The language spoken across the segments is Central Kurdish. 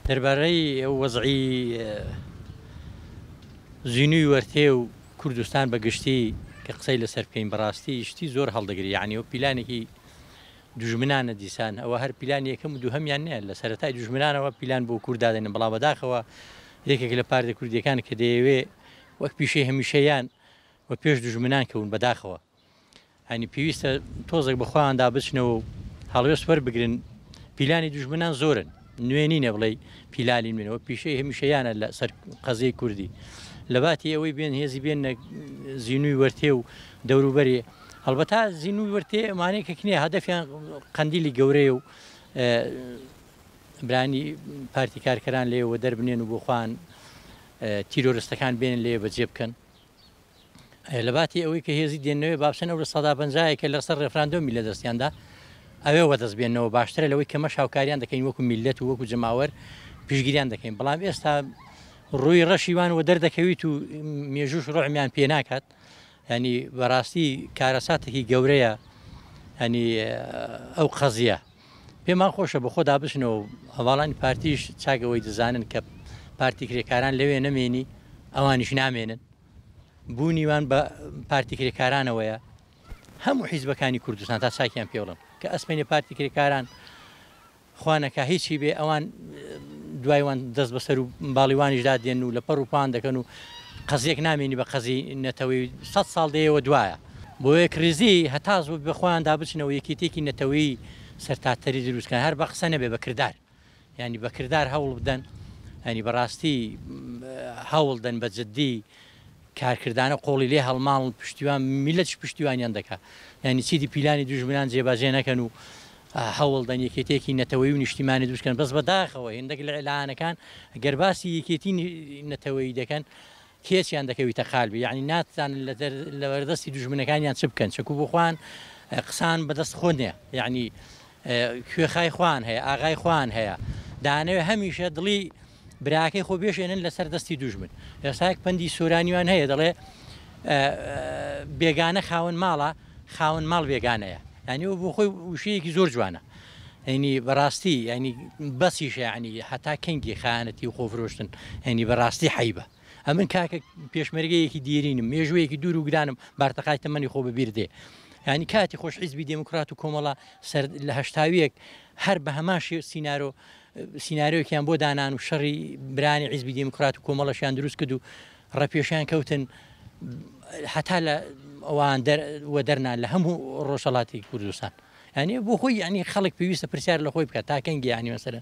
دەربارەی وەزعی زینوی وەرتێ و کوردستان بە گشتی کە قسەی لەسەر بکەین بەڕاستی شتی زۆر هەڵدەگری یعنی و پیلانێکی دوژمنانە دیسان ئەوە هەر پیلان یەکەم و دووهمیان نیە لە سەرەتای دوژمنانەوە پیلان بۆ کورددادێنن بەڵام بەداخەوە یەکێک لە پارتە کوردیەکان کە دەیەوێ وەک پیشەی هەمیشەیان و پێش دوژمنان کەون بەداخەوە. یانی پێویستە تۆزێک بەخۆیاندا بچنەوە و هەڵوێست وەربگرن پیلانی دوژمنان زۆرن نوێ نینە بڵێ پیلانی منەوە پیشەی هەمیشەیانە لە سەر قەزیی کوردی لەباتی ئەوەی بێن هێزی بێن زیینوی وەرتێ و دەوروبەری هەڵبەتا زیینوی وەرتێ ئەمانەیە کە کنێ هەدەفیان قەندیلی گەورەیە و برانی پارتی کارکەران لێوە دەربنێن و بۆخواان تیرۆرستەکان بێن لێ بەجێ بکەن لەباتی ئەوەی کە هێزی دێنەوەێ بابسن ئەو لە سەدا پنجایە کە لەسەر ڕێفراندۆمی لە دەستیاندا ئەوێ وەدەست بێنەوە باشترە لەوەی کەمە شاوکاریان دەکەین وەکو میلەت و وەکو جەماوەر پیشگیریان دەکەین بەڵام ئێستا ڕووی ڕەشیوان و دەردەکەویت و مێژوش ڕۆحمیان پێ ناکات ینی بەڕاستی کارەساتێکی گەورەیە هەنی ئەو قەزیە پێمان خۆشە بە خۆدا بچنەوە و هەواڵانی پارتیش چاک ئەوەی دەزانن کە پارتی کرێکاران لەوێ نەمێنی ئەوانیش نامێنن بوونیوان بە پارتی کرێکارانەوەیە هەموو حیزبەکانی کوردستان تا چاکیان پێڵم کە ئەسمێنێ پارتی کرێکاران خوانەکە هیچی بێ ئەوان دوایوان دەست بەسەر و باڵیوانیشدا دێن و لە پەڕ و پان دەکەن و قەزیەک نامێنی بە قەزی نەتەوەی سە ساڵ دەیەوە دوایە بۆ یەکڕیزی هەتا زوو بە خۆیان دابچنەوە یەکێتیەکی نەتەوەیی سەرتاتەری دروست کەن هەر بە قسە نەبێ بە کردار یانی بە کردار هەوڵ بدەن ینی بەڕاستی هەوڵ دەن بە جددی کارکردانە قۆڵی لێ هەڵماڵ پشتیوان میلەش پشتیوانیان دەکات ینی چیدی پیلانی دوژمنان جێباجێ نەکەن و هەوڵ دەن یەکێتێکی نەتەوەی و نیشتیمانی دوستکەن بەس بەداخەوە هێندەک لە ئەلانەکان گەرباسی یەکێتی نەتەوەی دەکەن کێچیان دەکەویتە قالبی یانی ناتزانن لەبەردەستی دوژمنەکانیان چ بکەن چەکو بۆ خوان قسان بەدەست خۆ نیە یعنی کوێخای خوان هەیە ئاغای خوان هەیە دانەوێ هەمیشە دڵی براکەی خۆ بێشێنن لەسەر دەستی دوژمن ئێستاک پندی سورانیوان هەیە دەڵێ بێگانە خاون ماڵە خاوەن ماڵ بێگانەیە یانی وەبۆ خۆی وشەیەکی زۆر جوانە هەینی بەڕاستی یانی بەسیشە یانی هەتا کەنگی خانەتی و خۆفرۆشتن هەینی بەڕاستی حیبە ئەمن کاکە پێشمەرگەیەکی دیرینم مێژوەیەکی دوور و گرانم بارتەقای تەمەنی خۆ بەبیر دێ ینی کاتی خۆش حیزبی دموکرات و کۆمەڵە سەر لە هەشتاویەک هەر بە هەماشی سینناۆ سینناۆکیان بۆ دانان و شەڕی برانی حیزبی دموکرات و کۆمەڵەشیان دروست کرد و ڕەپێشیان کەوتن هەتا لە ئەوان وەدەرنا لە هەموو ڕۆژەڵاتی کوردستان یعنی بۆ خۆی ینی خەڵک پێویستە پرسیار لە خۆی بکات تاکەنگی ینی مەسەر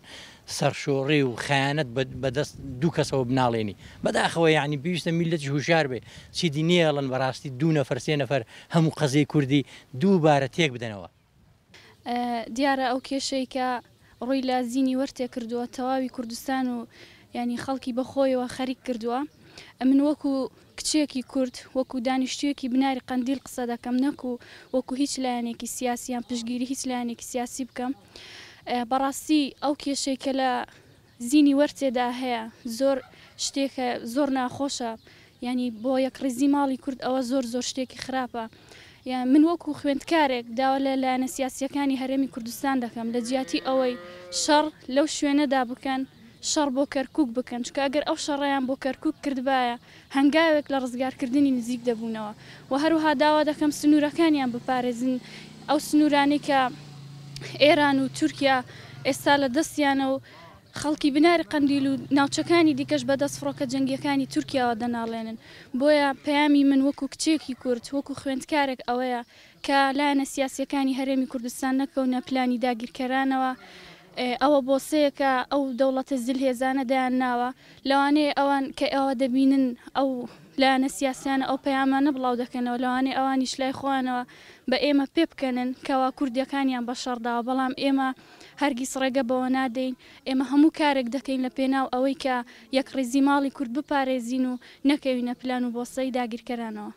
سەرشۆڕی و خیانەت بەدەست دوو کەسەوە بناڵێنی بەداخەوە ینی پێویستە میلەتی هوشار بێ چیدی نێڵن بەڕاستی دوو نەفرسێ نەفەر هەموو قەزیی کوردی دووبارە تێک بدەنەوە دیارە ئەو کێشەی کە ڕووی لە زینی وەرتێ کردووە تەواوی کوردستان و ینی خەڵکی بەخۆیەوە خەریک کردووە ئەمن وەکو کچێکی کورد وەکو دانیشتویەکی بناری قندیل قسە دەکەم نەکو وەکو هیچ لایەنێکی سیاسیان پشگیری هیچ لایەنێکی سیاسی بکەم بەڕاستی ئەو کێشەی کە لە زینی وەر تێدا هەیە زۆر شتێکە زۆر ناخۆشە یانی بۆ یەک ڕیزی ماڵی کورد ئەوە زۆر زۆر شتێکی خراپە یان من وەکو خوێندکارێک داوا لە لایەنە سیاسیەکانی هەرێمی کوردستان دەکەم لە جیاتی ئەوەی شەڕ لەو شوێنەدا بکەن شەڕ بۆ کەرکک بکەن چکە گەر ئەو شەڕیان بۆ کەرکک کردبایە هەنگاوێک لە ڕزگارکردنی نزیک دەبوونەوە و هەروەها داوا دەکەم سنوورەکانیان بپارێزن، ئەو سنوورانەی کە ئێران و تورکیا ئێستا لە دەستیانە و خەڵکی بناری قەندیل و ناوچەکانی دیکەش بە دەست فڕۆکە جەنگییەکانی تورکیاوە دەناڵێنن، بۆیە پەیامی من وەکوو کچێکی کورد، وەکوو خوێندکارێک ئەوەیە کە لایەنە سیاسییەکانی هەرێمی کوردستان نەکەونە پلانی داگیرکەرانەوە، ئەوە بۆسەیەکە ئەو دەوڵەتە زلهێزانە دەیان ناوە، لەوانەیە ئەوان کە ئەوە دەبینن ئەو لایەنە سیاسیانە ئەو پەیامانە بڵاو دەکەنەوە لەوانەیە ئەوانیش لای خۆیانەوە بە ئێمە پێ بکەنن کەوا کوردیەکانیان بە شەڕ داوە بەڵام ئێمە هەرگیز ڕێگە بەوە نادەین ئێمە هەموو کارێک دەکەین لە پێناو ئەوەی کە یەکڕیزی ماڵی کورد بپارێزین و نەکەوینە پلان و بۆسەی داگیرکەرانەوە.